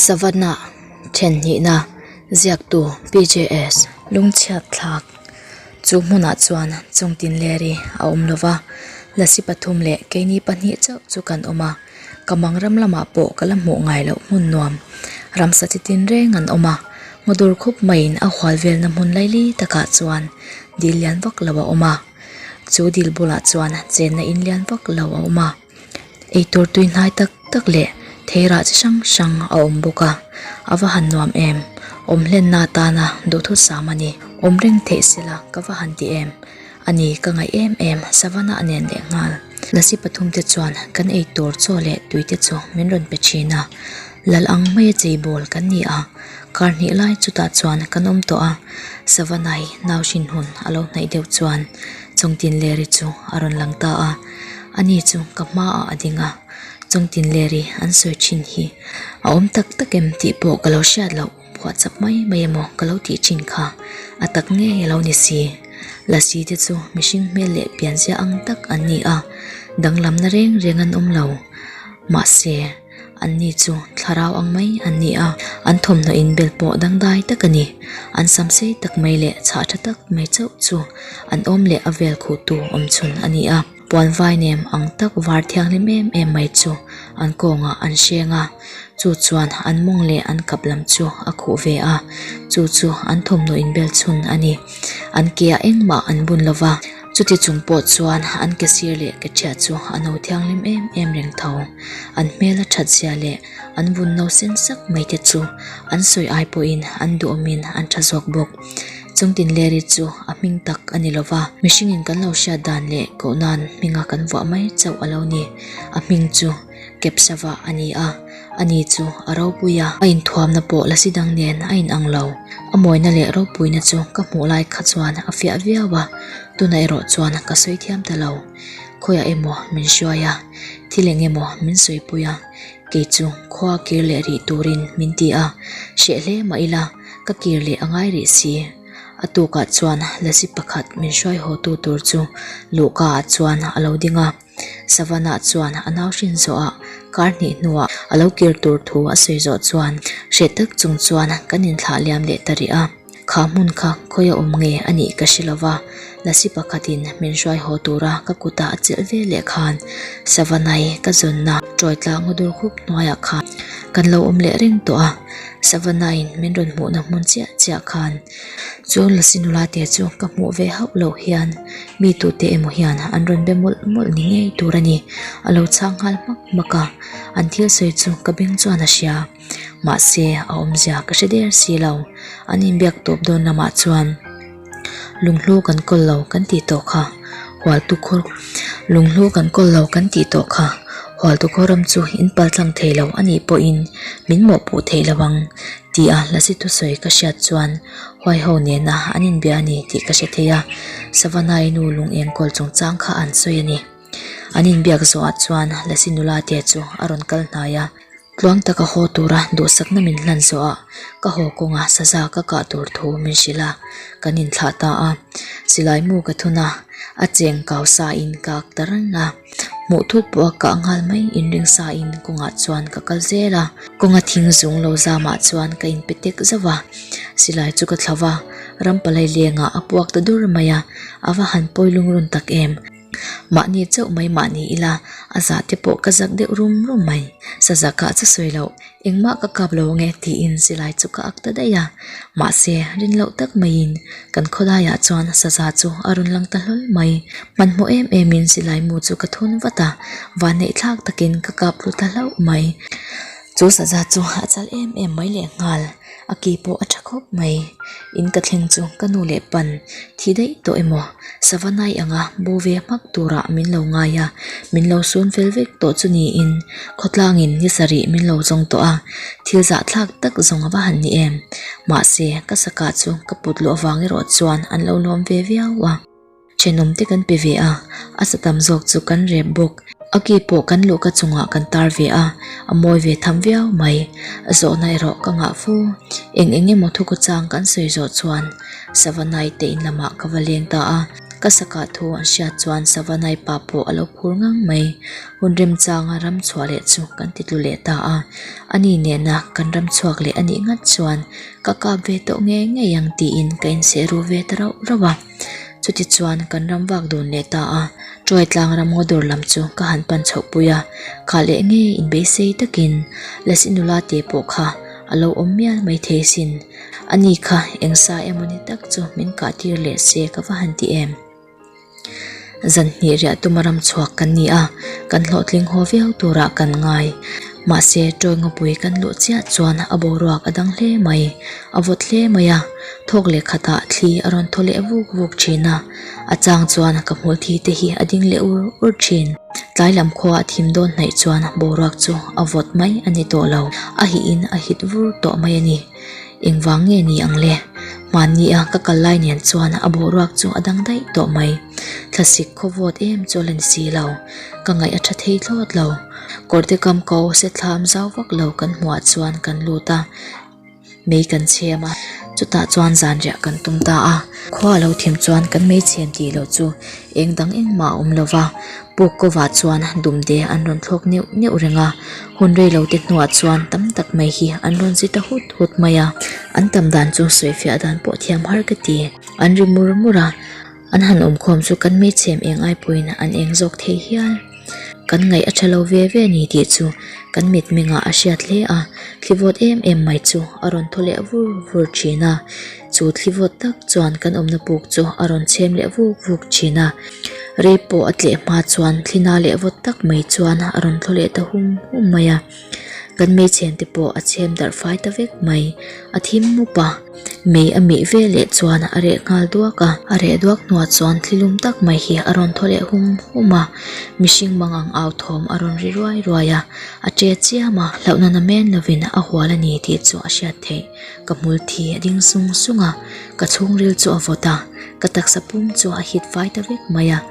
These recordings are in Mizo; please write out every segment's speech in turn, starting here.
Savannah then hnihna ziaktu PJS Lungchhiat Thlak chu hmunah chuan chungtin leri a awm lo va, Lasi pathum leh keini pahnih chauh chu kan awm a. Ka mang ram lamah pawh ka la hmuh ngai loh hmun nuam ramsa chi tinreng an awm a, ngaw dur khawp maiin a hual velna hmun laili takah chuan dil lian vak lo a awm a, chu dil bulah chuan chenna in lian vak lo a awm a, eitur tui hnai tak tak leh thei rah chi hrang hrang a awm bawk a, a va han nuam em? Awm hlenna atana duhthusam a ni, awm reng theih sela ka va han ti em? Ani ka ngaih em em. Savannah a nen leh nghal. Lassi pathum te chuan, Kan ei tur chaw leh tui te chu min rawn pe thin a, lal ang mai a chei bawl kan ni a, kar hnih lai chutah chuan kan awm tawh a. Savannah hi nau hrin hun a lo hnaih deuh chuan chawng tinleri chu a rawn lang ta a. Ani chu ka hma ah a ding a, chawng tinleri an sawi thin hi a awm tak tak em tih pawh ka lo hriat loh. Phuah chap mai mai emaw ka lo tih chin kha, a tak ngei a lo ni si. Lassi te chu mihring hmel leh pianzia ang tak an ni a, danglamna reng reng an awm lo. Mahse, an ni chu thlarau ang mai an ni a, an thawmhnaw inbel pawh dangdai tak a ni. An sam sei tak mai leh chhah tha tak mai chauh chu an awm leh a vel khuh tu awmchhun a ni a. Puan vainem ang tak var thianghlim em em mai chu an kawngah an hreng a, chu chuan an mawng leh an kap lam chu a khuh ve a, chu chu an thawmhnaw inbel chhun a ni. An ke ah engmah an bun lo va, chuti chung pawh chuan an ke sir leh ke thiah chu a no thianghlim em em reng tho. An hmela thatzia leh an vun no seng sak mai te chu an sawi ai pawhin an duhawmin an tha zawk bawk. chungtin Larry chu a hming tak a ni lo va, mihringin kan lo hriat dan leh koh nan hminga kan vuah mai chauh a lo ni. A hming chu Kepsava a ni a, a ni chu a ropui a, a inthuamna pawh la si dang nen a in ang lo. A mawina leh ropuina chu ka hmuh lai kha chuan a fiah viau a, tuna erawh chuan ka sawi thiam ta lo. Khawiah emaw min hruai a, thil eng emaw min sawi pui a, kei chu khua kir leh rih turin min ti a, hreh hle mah ila. Ka kir leh a ngai rih si. A tukah chuan lazi pakhat min hruai haw tu tur chu luhka ah chuan a lo ding a. Savana chuan a nau hrin zawh a, kar hnih hnuah a lo kir tur thu a sawi zawh chuan hre tak chung chuan kan in thlah liam leh ta rih a. Khah hmun kha khawi a awm nge a nih ka hre lo va. Lasi pakhatin min hruai haw tura ka kutah a chelh ve leh khan Savanai ka zawnna ṭawi tla ngaw dur khup hnuaiah khan kan lo awm leh reng tawh a, Savanai'n min rawn hmuhna hmun chiah chiah khan chu Lasi nula te chu ka hmuh ve hauh loh hian mi tute emaw hian an rawn be mawlh mawlh ni ngei tur a ni, a lo chhak nghal hmak hmak a, an thil sawi chu ka beng chuan a hria. mahse a awmzia ka hre der si lo, an inbiak tawp dawn lamah chuan lunghlu kan kawl lo kan tih tawh kha, hualtu khaw lunghlu kan kawl lo kan tih tawh kha, hualtu kawram chu in pal tlang thei lo a nih pawhin min mawhpuh theih lo ang tih a la si thusawi ka hriat chuan huaiho nena an inbia a ni tih ka hre thei a, Savannah-i nu lung eng kawl chungchang kha an sawi a ni. An inbiak zawhah chuan Lasi nula te chu a rawn kal hnai a, Tluang taka haw tura duhsakna min hlan zawha ka haw kawnga saza ka kah tur thu min hrilh a, kan inthlah ta a. Silaimu ka thun a, a cheng kau sain ka ak ta reng a. Hmuh thuk pawha kah nghal mai inring sain kawngah chuan ka kal zel a. Kawnga thing zung lo zamah chuan ka inpe tek zauh a, Silai chu ka thlauh a, Rampalai lengah a puak ta dur mai a, a va han pawi lungrun tak em? mahni chauh mai mah ni ila a zah te pawh ka zak deuh rum rum mai, saza kah chu sawi loh engmah ka kap lo nge tiin silai chu ka ak ta daih a, mahse rin loh tak maiin kan khawlaiah chuan saza chu a rawn lang ta hlawl mai, hmanhmawh em em in silai mu chu ka thun vat a, vanneih thlak takin ka kap hlu ta hlauh mai, chu saza chu a chal em em mai leh nghal. a ke pawh a tha khawp mai in ka thleng chu ka nu leh pan thi daih tawh emaw sava nai anga bu ve hmak turah min lo ngai a min lo sum fel vek tawh chu niin khawtlangin ni sarih min lo zawng tawh a thil zah thlak tak zawng ava han ni em mahse ka sakah chu ka put luh avang erawh chuan an lo lawm ve viau a. Thenawm te kan pe ve a, a sa tam zawk chu kan rep bawk. A ki pawh kan luhka chungah kan tar ve a, a mawi ve tham viau mai. Zawhna erawh ka ngah fu. Eng eng emaw thukuchang kan sawi zawh chuan Savanai tein lamah ka va leng ta a. Ka sakah thu an hriat chuan Savanai pa pawh a lo phur ngang mai. Hun remchanga ram chhuah leh chu kan ti tlu leh ta a. A ni nena kan ram chhuak leh a nih ngat chuan ka kap ve tawh ngei ngei ang tiin ka inseh ru ve ta rauh rauh a. Chutichuan kan ram vak dun leh ta a, Troy tlangram ngaw dawr lam chu ka han pan chhoh pui a, khah leh nge inbeisei takin Les i nula te pawh kha a lo awm mial mai thei sin, ani kha engsa emaw ni tak chu min kah tir leh se ka va han ti em? Zan hnih riah tuma ram chhuak kan ni a, kan hlawhtling haw viau turah kan ngai. Mahse, tawingawpui kan luh chiah chuan a boruak a dang hle mai, a vawt hle mai a. Thawk leh khatah thli a rawn thaw leh vuk vuk thin a, a chang chuan ka hmuh thi te hi a ding leh ur ur thin. Tlai lam khua a thim dawn hnaih chuan boruak chu a vawt mai a ni tawh lo, a hihin a hit vur tawh mai a ni. engvang nge ni ang le? Mahnia ka kal lai nen chuan a bohruak chu a dang daih tawh mai. Thlasik khawvawt em chu a la ni si lo. Ka ngaih a tha thei thlawt lo. Kawr te kam ko se thlam zau vak lo kan hmuah chuan kan lut a, mei kan chhem a. Chutah chuan zanriah kan tum ta a. Khua a lo thim chuan kan mei chhem tih loh chu Eng dang engmah a awm lo va, Pukova chuan dumde an rawn thlawk neuh neuh reng a. Hun reilote hnuah chuan tam tak mai hi an rawn zit a hut hut mai a, an tam dan chu sawi fiah dan pawh thiam har ka ti. An ri mur mur a, an han awmkhawm chu kan hmeichhe em eng ai pawhin an eng zawk thei hial. kan ngaih a ṭhalo ve ve a ni tih chu kan mit mengah a hriat hle a, thlivawt em em mai chu a rawn thaw leh vur vur ṭhin a, chu thlivawt tak chuan kan awmna puk chu a rawn chhem leh vuk vuk ṭhin a, rei pawh a tleh hma chuan thlina leh vawt tak mai chuan a rawn thaw leh ta hum hum mai a. Kan hmeichhian te pawh a chhem darh fai ta vek mai. A thim mup a, mei a mih ve leh chuan a reh nghal duak a. A reh duak hnuah chuan thlilum tak mai hi a rawn thaw leh hum hum a, mihring mangang au thawm a rawn ri ruai ruai a, a che chiam a. Hlauh nana men lovin a hual a ni tih chu a hriat theih. Ka hmul thi a ding sung sung a, ka chhungril chu a vawt a, ka taksa pum chu a hit fai ta vek mai a.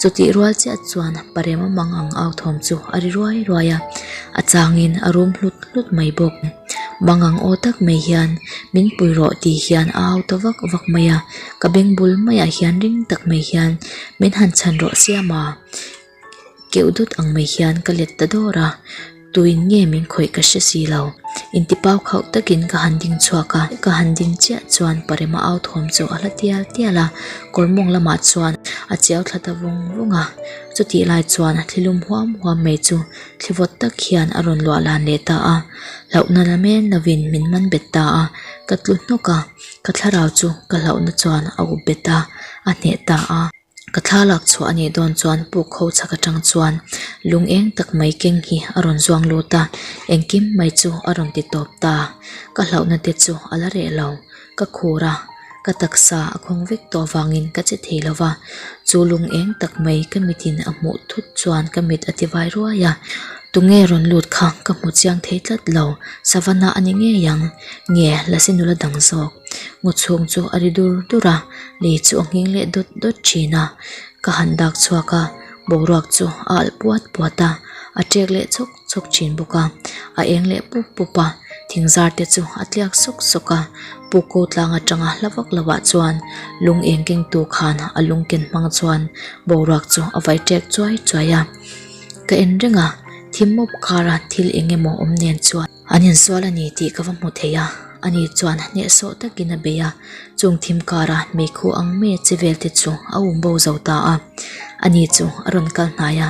chutih rual chiah chuan pa remawmawng ang au thawm chu a ri ruai ruai a a changin a rum hlut hlut mai bawk mangang aw tak mai hian min pui rawh tih hian a au ta vak vak mai a ka beng bul mai ah hian ring tak mai hian min han chhan rawh siam a keuh dut ang mai hian ka let ta dawr a. Tuin nge min khawih ka hre si lo. Intipau khauh takin ka han ding chhuak a. Ka han ding chiah chuan Parema au thawm chu a hla tial tial a. Kawrmawng lamah chuan a chiau thla ta vung vung a. Chutih lai chuan thlilum huam huam mai chu thli vawt tak hian a rawn luahlan leh ta a. Hlauhna la men lovin min man bet ta a. Ka tlu hnawk a. Ka thlarau chu ka hlauhna chuan a up bet a, a hneh ta a. Ka thla lak chhuah a nih dawn chuan pukho chhak atang chuan lung eng tak mai keng hi a rawn zuang lut a, engkim mai chu a rawn ti tawp ta. Ka hlauhna te chu a la reh lo, ka khur a, ka taksa a khawng vek tawh avangin ka che thei lo va. Chu lung eng tak mai ka mitin a hmuh thut chuan ka mit a ti vai ruai a. Tunge rawn lut kha ka hmu chiang thei tlat lo, Savannah a ni ngei ang, nge la si nula dang zawk? Ngaw chhung chu a ri dur dur a. lei chu a nghing leh dawt dawt thin a ka han dak chhuak a boruak chu a alh puat puat a a ṭek leh chawk chawk thin bawk a a eng leh pup pup a thing zar te chu a tliak sawk sawk a pukko tlang aṭanga hla vak lo ah chuan lung eng keng tu khan a lung ken hmang chuan boruak chu a vai ṭek chuai chuai a ka en reng a thim mawp khara thil eng emaw awm nen chuan-- An insual a ni tih ka va hmu thei a, a ni chuan hneh sawh takin a bei a, chung thim kara hmei khu ang meh che vel te chu a awm bo zo ta a, a ni chu a rawn kal hnai a,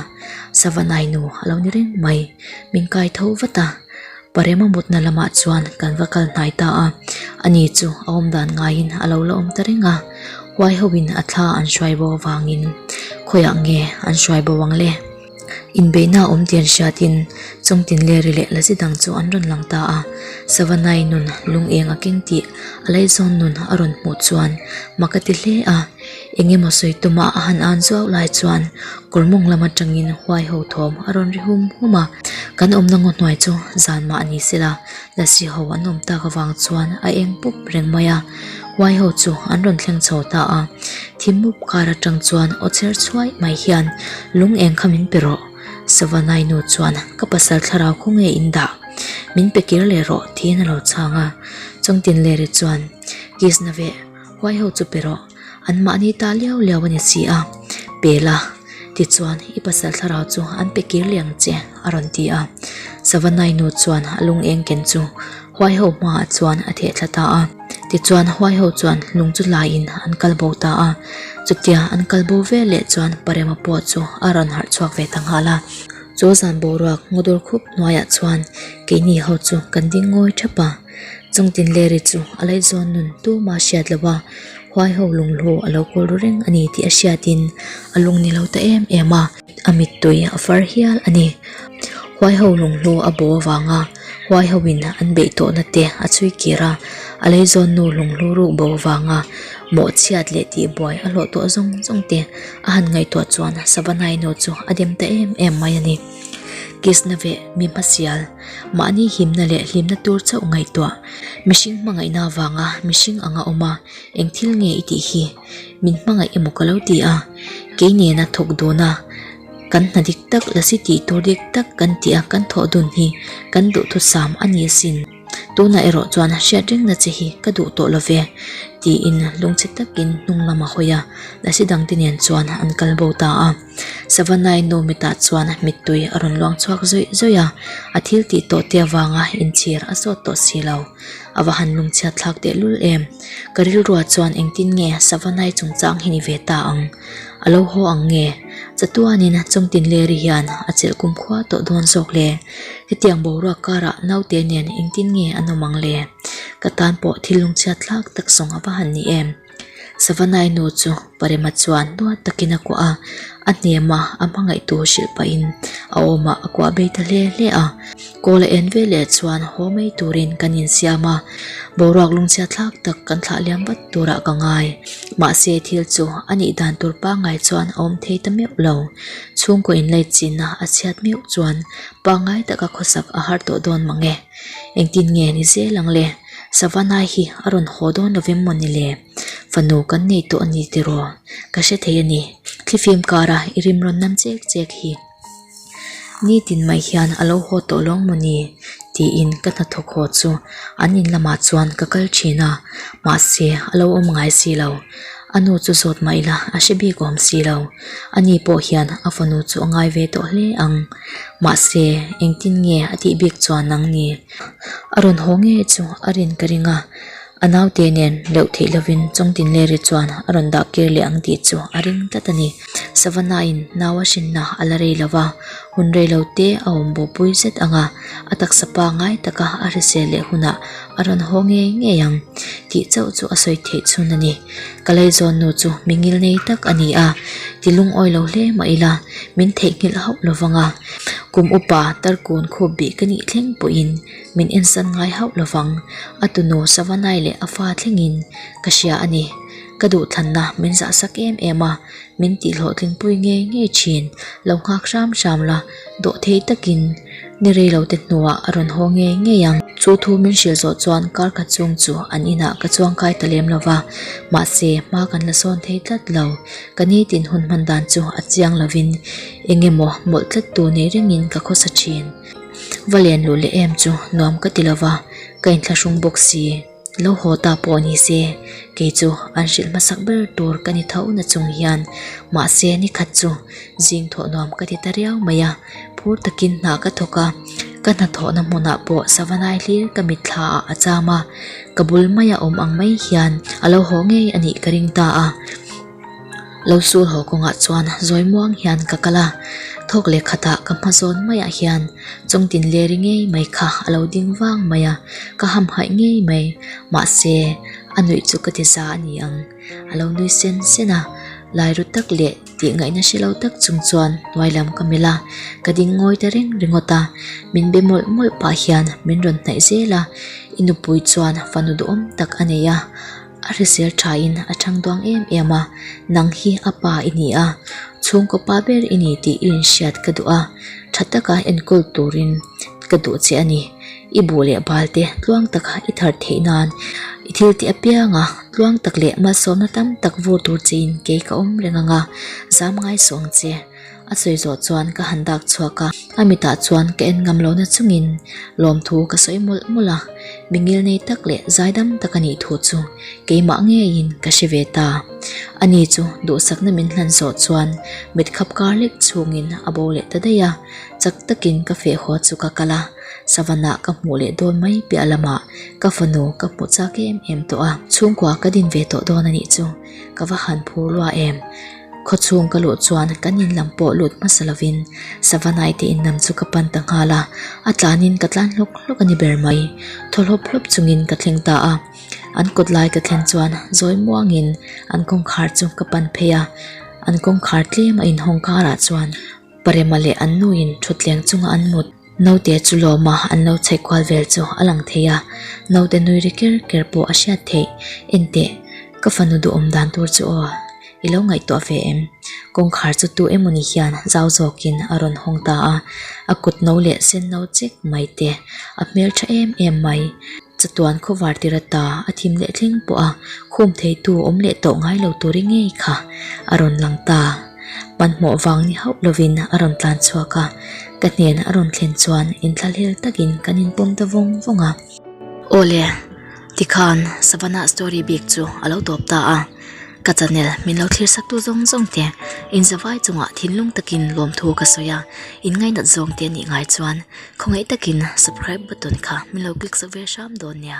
Savanai nu a lo ni reng mai, min kai tho vat a, pa Rema mutna lamah chuan kan va kal hnai ta a, a ni chu a awm dan ngaiin a lo la awm ta reng a, huai ho in a thla an hruai bo avangin khawiah nge an hruai bo ang le? Inbeihna a awm tih an hriat in, chawngtin leh ri leh la zet ang chu an rawn lang ta a. Savannah-i nun lungeng a keng tih a lai zawn nun a rawn hmuh chuan mak a ti hle a. Eng emaw sawi tuma a han an zuau lai chuan kawr mawng lam atangin huaiho thawm a rawn ri hum hum a. Kan awmna ngaw hnuai chu zan mah a ni sela. Lasih ho an awm tak avang chuan a eng pup reng mai a, huai ho chu an rawn thleng chho ta a, thim mup kar atang chuan aw cher chhuai mai hian lung eng kha min pe rawh, Savanai nu chuan ka pasal thlarau khaw nge in dah, min pe kir leh rawh tiin a lo chhang a, Chawngtinlei ri chuan kiss na ve. Huai ho chu pe rawh, an mahni ta liau liau a ni si a, pe la, tichuan i pasal thlarau chu an pe kir liam che a rawn ti a. Savanai nu chuan a lung eng ken chu huai ho hma ah chuan a theh thla ta a, tichuan huai ho chuan lung chu lai in an kal bo ta a, chutia an kal bo vel leh chuan Parema pawh chu a rawn harh chhuak ve ta nghal a. Chawlhzan boruak ngawdawr khup hnuai ah chuan keini ho chu kan ding ngawi thap a. Chung tin le ri chu a laih zawn nun tuma a hriat lo a, huai ho lunghlu a lo kawl ru reng a ni tih a hriatin a lung ni lo ta em em a, a mittui a far hial a ni. Huai ho lunghlu a baw avanga huai ho in an beih tawh na te a chhui kir a, a lei zawn nu lunghlu ruk bo avanga mawh chhiat leh tih buai a hlawh tawh zawng zawng te a han ngaihtuah chuan Savanai nu chu a dem ta em em mai a ni. Kisna ve mi hmasial. mahni himna leh hlimna tur chauh ngaihtuah mihring hmangaihna avanga mihring ang a awm a, eng thil nge i tih hi? Min hmangaih emaw ka lo ti a, kei nena thawk dawna kan hna dik tak la si tih tur dik tak kan ti a, kan thawh dun hi kan duhthusam a ni asin, tunah erawh chuan hriat rengna che hi ka duh tawh love tiin lungchhe takin hnung lam a hawi a, Lasitdangte nen chuan an kal bo ta a. Savannah-i Nomitah chuan mittui a rawn luang chhuak zawih zawih a, a thil tih tawh te avanga inchhir a sawt tawh si lo. A va han lungchhiat thlak tehlul em! Ka rilrua chuan engtin nge Savannah-i chungchang hi ni ve ta ang? A lo haw ang nge? Chatuanin Chawngtinleri hian a chelh kumkhua tawh dawn zawk le. Hetiang boruak karah naute nen engtin nge an awm ang le? Ka tan pawh thil lungchhiat thlak tak sawng a va han ni em! Savanai nu chu parem a chuan nual takin a kuah a, a hniama a hmangaih tur hrilh pahin a awma a kuah beh ta hle hle a. Kawl a en vel leh chuan haw mai turin kan insiam a, boruak lungchhiat thlak tak kan thlah liam vat turah ka ngai. Mahse thil chu a nih dan tur pangngai chuan a awm thei ta meuh lo. Chhungkaw in late chinna a chhiat meuh chuan pangngai taka khawsak a har tawh dawn mang e. Engtin nge ni zel ang le? Savannah hi a rawn haw dawn lo vem mawni le, fanu kan nei tawh a ni tiraw? Ka hre thei a ni. Thli fim kara i rimrawn nam chek chek hi nitin mai hian a lo haw tawh lawng maw ni? tiin ka hnathawk haw chu an in lamah chuan ka kal thin a, mahse a lo awm ngai si lo. A nu chu zawt mah ila a hre bik awm si lo. A ni pawh hian a fanu chu a ngai ve tawh hle ang. Mahse, engtin nge a tih bik chuan ang ni? A rawn haw ngei chu a rin ka ring a, a naute nen leuh theih lovin chawngtin leh ri chuan a rawn dah kir leh ang tih chu a ring tlat a ni. Savannah-in naua hrinna a la rei lova, hun rei lo te a awm bawhpui zet anga a taksa pa ngai taka a hrisel leh hunah a rawn haw ngei ngei ang tih chauh chu a sawi theih chhun a ni. Ka lei zawn nu chu mi ngil ngei tak a ni a, ti lungawi lo hle mah ila min theihnghilh hauh lo vang a, kum upa tarkun khup bih ka nih thleng pawhin min en san ngai hauh lo vang. A tunu Savanai leh a fa thlengin ka hria a ni. Ka duhthlanna min zah sak em em a, min tih hlawhtling pui ngei ngei thin, lo nghak hram hram la. dawh thei takin ni reilote hnuah a rawn haw ngei ngei ang. Chu thu min hrilh zawh chuan kar khat chung chu an inah ka chuang khai ta lem lova, mahse hma kan la sawn thei tlat lo. Ka nitin hun hman dan chu a chiang lovin enge maw mawlh tlat tur nei rengin ka khawsa thin. Va len luh leh em chu nuam ka ti lova, ka inthlahrung bawk si. lo haw ta pawh ni se kei chu an hrilh hmasak ber tur ka ni tho na chung hian mahse ni khat chu zing thawh nuam ka ti ta riau mai a phur takin hna ka thawk a ka hna thawh na hmun ah pawh sava lai hlir ka mit thla ah a cham a ka bul mai a awm ang mai hian a lo haw ngei a nih ka ring ta a. Lo sul haw kawngah chuan zawi muang hian ka kal a, thawk leh khatah ka hma zawn maiah hian chawng tin le ri ngei mai kha a lo ding vang mai a, ka hamhaih ngei mai. Mahse, a nuih chu ka ti za a ni ang. A lo nui sen sen a, lai ru tak leh tihngaihna hre lo tak chung chuan hnuai lam ka melh a, ka ding ngawi ta reng ringawt a, min be mawlh mawlh pah hian min rawn hnaih zel a, i nupui chuan fanu duh awm tak a nei a. A hrisel tha in a chang duang em em a, nang hi a pa i ni a, chhungkaw pa ber i ni tih i inhriat ka duh a, tha taka enkawl tur in ka duh che a ni. I bu leh bal te tluang tak a i thar theih nan i thil tih apiang a, tluang tak leh malsawmna tam tak vur tur che in kei ka awm reng ang a, zam ngaisuang che. a sawi zawh chuan ka han dak chhuak a, a mitah chuan ka en ngam lohna chungin lawmthu ka sawi mawlh mawlh a, mi ngilnei tak leh zaidam tak a nih thu chu keimah ngeiin ka hre ve ta. Ani chu duhsakna min hlan zawh chuan mit khap kar lek chungin a bo leh ta daih a, chak takin ka fehhaw chu ka kal a, savana ka hmuh leh dawn mai piah lamah ka fanu ka hmu chak em em tawh a, chhungkua ka din ve tawh dawn anih chu ka va han phur luah em. Khawchhung ka luh chuan kan inlam pawh lut hmasa lovin Savanai te innam chu ka pan ta nghal a, a tlanin ka tlan hlawk hlawk a ni ber mai. Thaw hlawp hlawp chungin ka thleng ta a, an kut lai ka thlen chuan zawi muangin an kawngkhar chu ka pan phei a, an kawngkhar tlem a inhawng karah chuan Parema leh an nuin thutthleng chunga an mut. Naute chu lawma an lo chhek kual vel chu a lang thei a, naute nui ri ker ker pawh a hriat theih. Enteh, ka fanu duhawm dan tur chu aw i lo ngaihtuah ve em? Kawngkhar chu tu emawni hian zau zawkin a rawn hawng ta a, a kut no leh sen no chek mai te a hmeltha em em mai. Chatuan khawvar tir ata a thim leh thleng pawha khum theitu awm leh tawh ngai lo tur i ngei kha a rawn lang ta. Hmanhmawh vang ni hauh lovin a rawn tlan chhuak a, ka hnenah a rawn thlen chuan in thlalhel takin kan in pawm ta vawng vawng a. Aw le, tikhan Savannah story bik chu a lo tawp ta a, ka chanel min lo thlir sak tu zawng zawng te, in zavai chungah thinlung takin lawmthu ka sawi a, in ngainat zawng te nih ngai chuan khawngaih takin subcribe button kha min lo click zauh ve hram dawn nia.